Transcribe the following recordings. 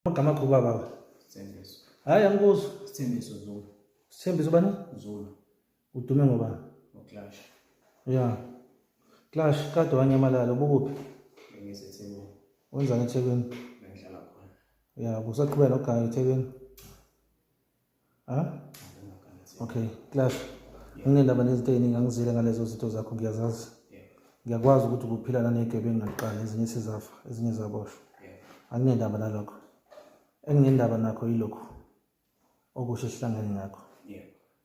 Amagama akho baba. Sithembiso. Hayi angikuzwa. Sithembiso Zulu. Sithembiso bani? Zulu. Udume ngoba? Uclash. Ya. Clash kade wanyamalala ubukuphi? Ngisethekwini. Wenzani eThekwini? Ngihlala khona. Ya, kusaqhubeka noganga eThekwini. ha okay class nginendaba nezinto eziningi angizile ngalezo zinto zakho ngiyazazi ngiyakwazi ukuthi kuphila nanegebengu ngaqala ezinye sizafa ezinye zaboshwa anginendaba nalokho enginendaba nakho yilokhu okusho sihlangene ngakho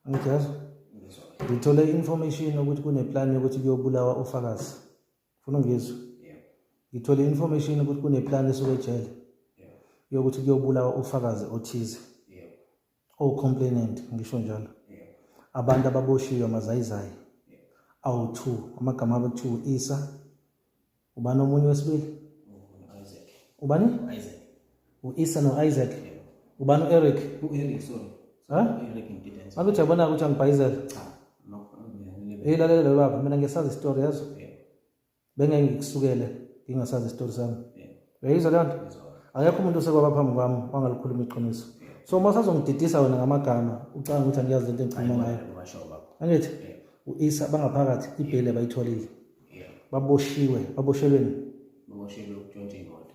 angijazi ngithole i-information ukuthi kuneplan yokuthi kuyobulawa ufakazi funa ngizwe ngithole information ukuthi kuneplan esuke ejele yokuthi kuyobulawa ufakazi othize o-complainant ngisho njalo abantu ababoshiwe amazayizayi awu-two amagama abo kuthiwa u-isa ubani omunye wesibili ubani U-Isa no-Isaac. Ubani u-Eric? U-Eric, sorry. Huh? U-Eric ngididane. Ngabe uthi yabona ukuthi angibhayizela. Cha. Nokho ngiyalile. Hey lalela lo baba, mina ngiyasazi istory yazo. Yeah. Bengeke ngikusukele ngingasazi istory sami. Yeah. Uyayizwa leyo nto? Akekho umuntu osekwaba phambi kwami wangalikhuluma iqiniso. So uma sazongididisa wena ngamagama, ucanga ukuthi angiyazi lento engikhuluma ngayo. Ngisho baba. Angithi? U-Isa bangaphakathi ibhele bayitholile. Yeah. Baboshiwe, baboshelweni. Baboshelwe ukutshontsha imoto.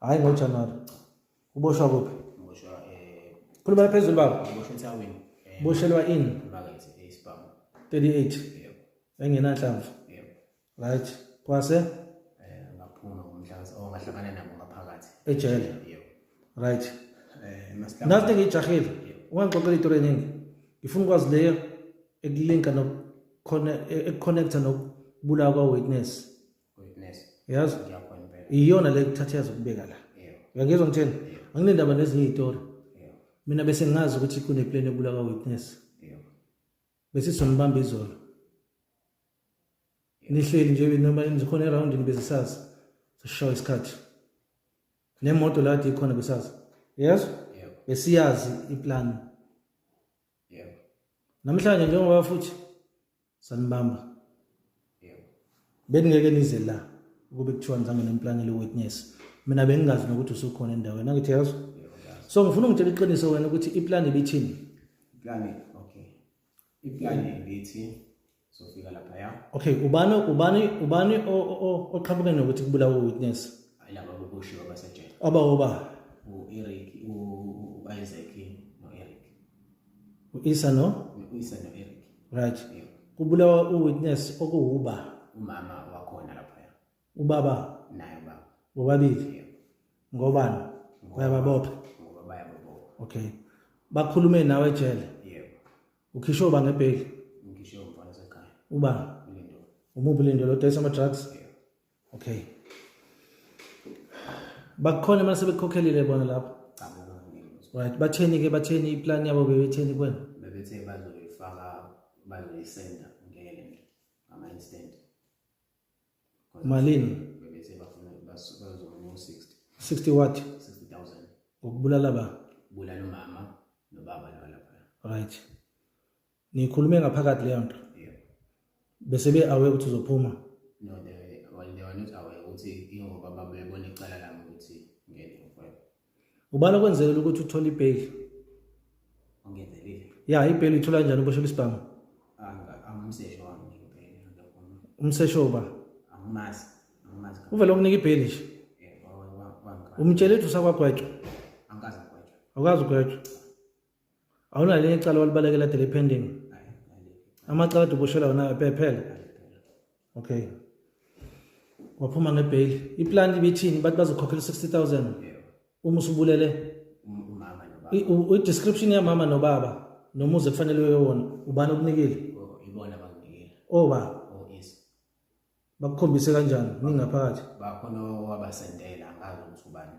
Hayi ngo January. Uboshwa kuphi? Uboshwa eh Khuluma phezulu baba. Uboshwa eThawini. Eh, Boshelwa in Market eSpam. Eh, 38. Yebo. Engenanhlamvu. Yebo. Right. Kwase eh ngaphuma ngomhlaza ongahlangana oh, nabo ngaphakathi. Ejele. Yebo. Right. Eh masikhathi. Nathi ngijahile. Ungangixoxela itori eningi. Ngifuna ukwazi leyo ekulinka no connect e-, e-, connector nokubulawa kwa witness. yazi iyona le kuthatha yazi ukubeka la uyangizwa ngitheni anginendaba nezinye iy'tori mina bese ngazi ukuthi kuneplan ebula ka-witness bese sizonibamba izolo nihleli nje noma nikhona erawundini bezisazi sishawa isikhathi nemoto la kade ikhona besazi yes besiyazi iplani namhlanje njengoba futhi sanibamba yebo beningeke nize la ukube kuthiwa ngizange nemplane le witness mina bengingazi nokuthi usukhona endaweni angithi yazi so ngifuna ungitshela iqiniso wena ukuthi iplan ibithini plan okay iplan ibithi sofika lapha ya okay ubani ubani ubani oqhamuke nokuthi kubulawa witness ayilaba boboshiwa basejele aba oba u Eric u Isaac U-Isa no? U-Isa no-Eric. Right. Yeah. Kubulawa u-witness okuwuba. Umama wakhona lapho ya. Ubaba? Naye ubaba. Bobabili? Yeah. Ngobani? Bayababopha? Ngoba bayababopha. Okay. Bakhulume nawe ejele? Yeah. Ukhishwe uba ngebheli? Ngikhishwe umfana sekhaya. Uba? Lindolo. Umuphi Lindolo? Udayisa ama-drugs? Yeah. okay bakhona imali sebekhokhelile bona lapho cha baba ngeke right batheni ke batheni iplan yabo bebetheni kwena bebethe bazoyifaka bazoyisenda ngeke ngama instant malini bebethe bafuna bazokuma 60 60 what 60000 ngokubulala ba bulala umama nobaba lona right nikhulume ngaphakathi leyo nto bese be aware ukuthi uzophuma no they well they were not aware ukuthi ingoba babebona icala lami ukuthi ngeke ngifike ubani okwenzekile ukuthi uthole ibail ongenzelile ya ibail ithola kanjani ubosho isibhamu angumsesho wami ibail umsesho uba angimazi angimazi uvele ukunika ibail nje umtshele ukuthi usakwagwetshwa angikaze ugwetshwa awukaze ugwetshwa awunalo elinye icala walibalekela dele pending amacala adubushela wona phela okay waphuma ngebheyili iplan ibithini bathi bazokhokhela 60000 uma usubulele i-description yamama nobaba nomuzi ekufanele wewona ubani okunikile oh, ibona bakunikile oba oh, bakukhombise kanjani ningaphakathi bakhona wabasendela angazi ukuthi ubani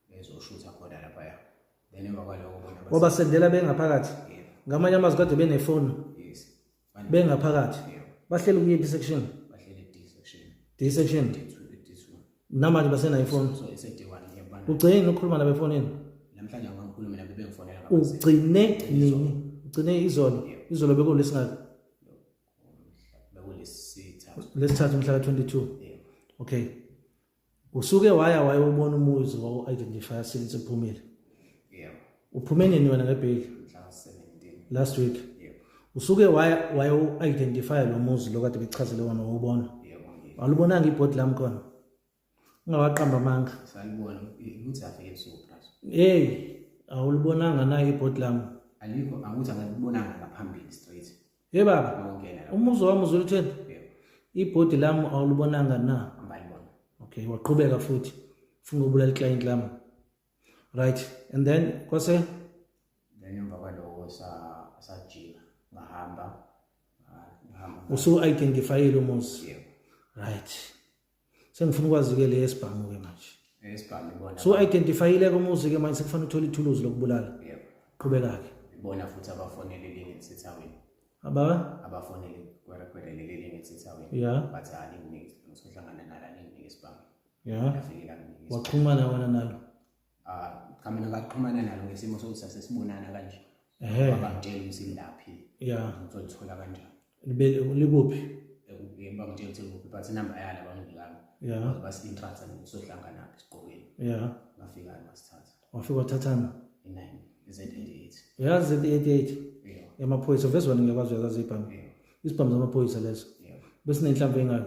bezoshutha khona lapha ya then emva kwaloko bona wabasendela bengaphakathi ngamanye amazwi kade benefoni bengaphakathi bahlele kuyiphi section bahlele D section D section namanje basenayo ifoni ugcine nokukhuluma nabo efonini namhlanje angikhulume nabo bengifonela ugcine nini ugcine izolo izolo bekulesingaka lesithathu umhla ka-22 okay usuke waya wayewubona umuzi wawu-identifya since uphumile uphume nini wena ngebheli last week usuke wayewu-identifya lo muzi lo kade bekuchazele wona wawubona alubonanga ibhodi lami khona ungawaqamba amanga salibona ukuthi afike ebusuku plus hey awulibonanga na ibhodi lami alikho angithi angilibonanga ngaphambili straight hey baba awungena umuzo wami uzulutheni ibhodi lami awulibonanga na angalibona okay waqhubeka futhi ufuna ukubulala iclient lami right and then kwase then emva kwaloko sa sajika ngahamba ngahamba usu identifyile umuzi yeah. right sengifuna ukwazi-ke le yesibhamu-ke manje esibhamu ibona so identifyile-ke umuzi-ke manje sekufanele uthole ithuluzi lokubulala yebo qhubeka-ke ibona futhi abafonele elinye elisethawini aba abafonele kwerekhwede leli elinye elisethawini ya bathi alinginiki ngisohlangana nalo alinginiki esibhamu ya yafike langiniki waxhumana wena nalo ah cha mina ngaxhumana nalo ngesimo sokuthi sasesibonana kanje ehe bangitshela ukuthi ngilaphi yeah ngizolithola kanjani libe likuphi ekubeni bangitshela ukuthi ngikuphi but inamba yala bangidlanga yeah basi intractor ngizohlangana phi siqokeni yeah ngafika ngasithatha wafika wathathana e9 z88 yeah z88 yeah emaphoyisa vezwana ngiyakwazi uyazazi ibhamu yeah isibhamu zamaphoyisa leso yeah besinenhlamvu engayo